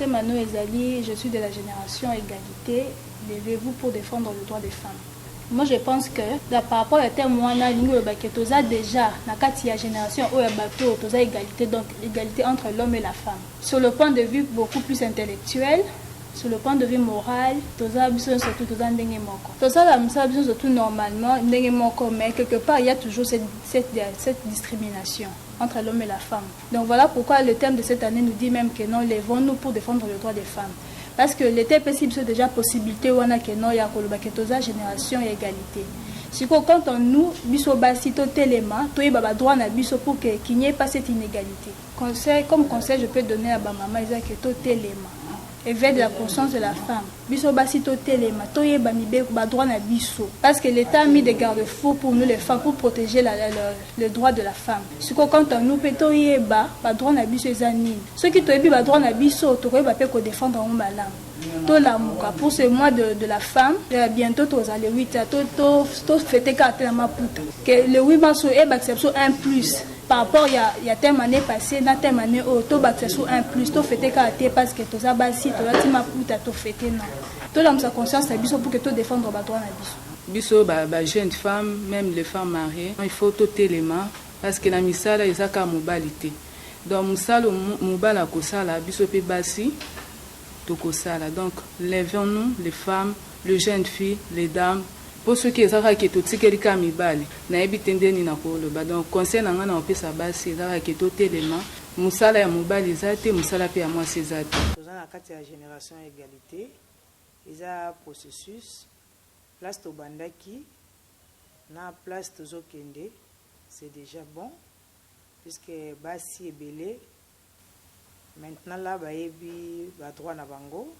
Mano Ezali, je suis de la génération égalité, levez-vous pour défendre le droit des femmes. Moi, je pense que da, par rapport à terme wana lingi oloba ke toza déjà na kati ya génération oyo ya bato toza égalité donc égalité entre l'homme et la femme sur le point de vue beaucoup plus intellectuel sur le point de vue moral toza biso nyonso tu toza ndenge moko tosala mosala biso nyonso tu normalement ndenge moko mais quelque part il y a toujours cette, cette, cette discrimination entre l'homme et la femme Donc voilà pourquoi le thème de cette annee nous dit meme que non levons nous pour defendre le droit des femmes parce que l'etat epesi biso dejà possibilite wana que non ya koloba que toza generation ya egalite sikoyo quant en nous biso basi totelema toyeba ba droit na biso pour que qu'il n'y ait pas cette inégalité conseil comme conseil je peux donner à ba mama eza que totelema éveil de la conscience de la femme Biso basi to telema to yeba mibeko ba droit na biso parce que l'etat a mis des garde fous pour nous les femmes pour proteger la la la le droit de la femme sikoyo quant à nous pe to yeba ba droit na biso eza nini soki to yebi ba droit na biso toko yeba pe ko defendre yango malamu to lamuka pour ce mois de de la femme euh, bientôt to za le 8 to to to fete ka te na maputa que le 8 mars e bakisa biso un plus par rapport ya, ya thème année passée na thème année oyo tobakisa sur un plus tofete kaka te parce que toza basi tolati maputa tofete na tolamusa conscience na biso pour que todefendre badroit na biso biso ba, ba jeune femme même les femmes mariées il faut totelema parce que na misala eza kaka mobali te donc mosala mobali akosala biso mpe basi tokosala donc levons nous les femmes le jeune fille les dames po soki eza kaka ke totikeli kaka mibali nayebi te nde nini nakoloba donc conseil na ngai nakopesa basi eza kaka ke totelema musala ya mobali eza te musala pe ya mwasi eza te. Toza na kati ya generation ya egalite eza processus place tobandaki na place tozokende c'est dejà bon puisque basi ebele Maintenant là bayebi ba droit na bango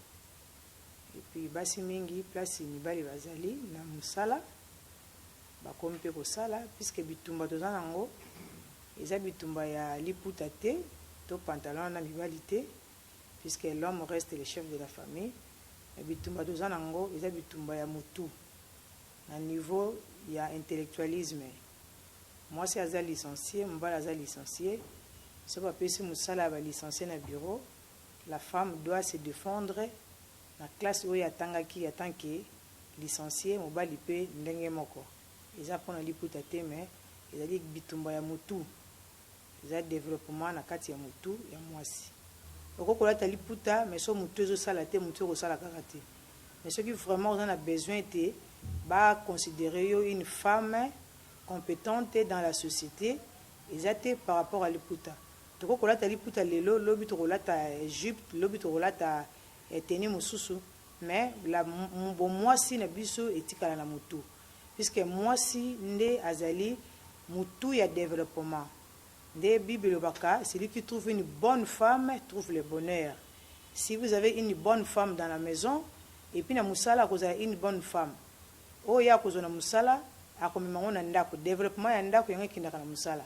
et puis basi mingi place mibali bazali na musala bakomi pe kosala puisque bitumba toza na ngo eza bitumba ya liputa te to pantalon na mibali te puisque l'homme reste le chef de la famille mais bitumba toza na ngo eza bitumba ya mutu na niveau ya intellectualisme. Mwasi aza licencie, mobali aza licencie, soki ba pesi musala ya ba licencie na bureau, la femme doit se defendre na classe oyo atangaki en tant que licencie, mobali mpe ndenge moko. Eza mpo na liputa te mais ezali bitumba ya mutu. Eza developpement na kati ya mutu ya muasi. Okoki kolata liputa mais soki mutu ezo sala te mutu eko sala kaka te. Mais soki vraiment oza na besoin ete ba considerer yo une femme competente dans la societe eza te par rapport ya liputa. Tokoki kolata liputa lelo lobi toko lata jupe lobi toko lata tenue mususu mais la bomuasi na biso etikala na mutu. puisque mwasi nde azali mutu ya developpement nde bible elobaka celui qui trouve une bonne femme trouve le bonheur si vous avez une bonne femme dans la maison et puis na musala akozala une bonne femme oyo ye akozua na musala akomema yango na ndaku developpement ya ndaku yango ekendaka na musala.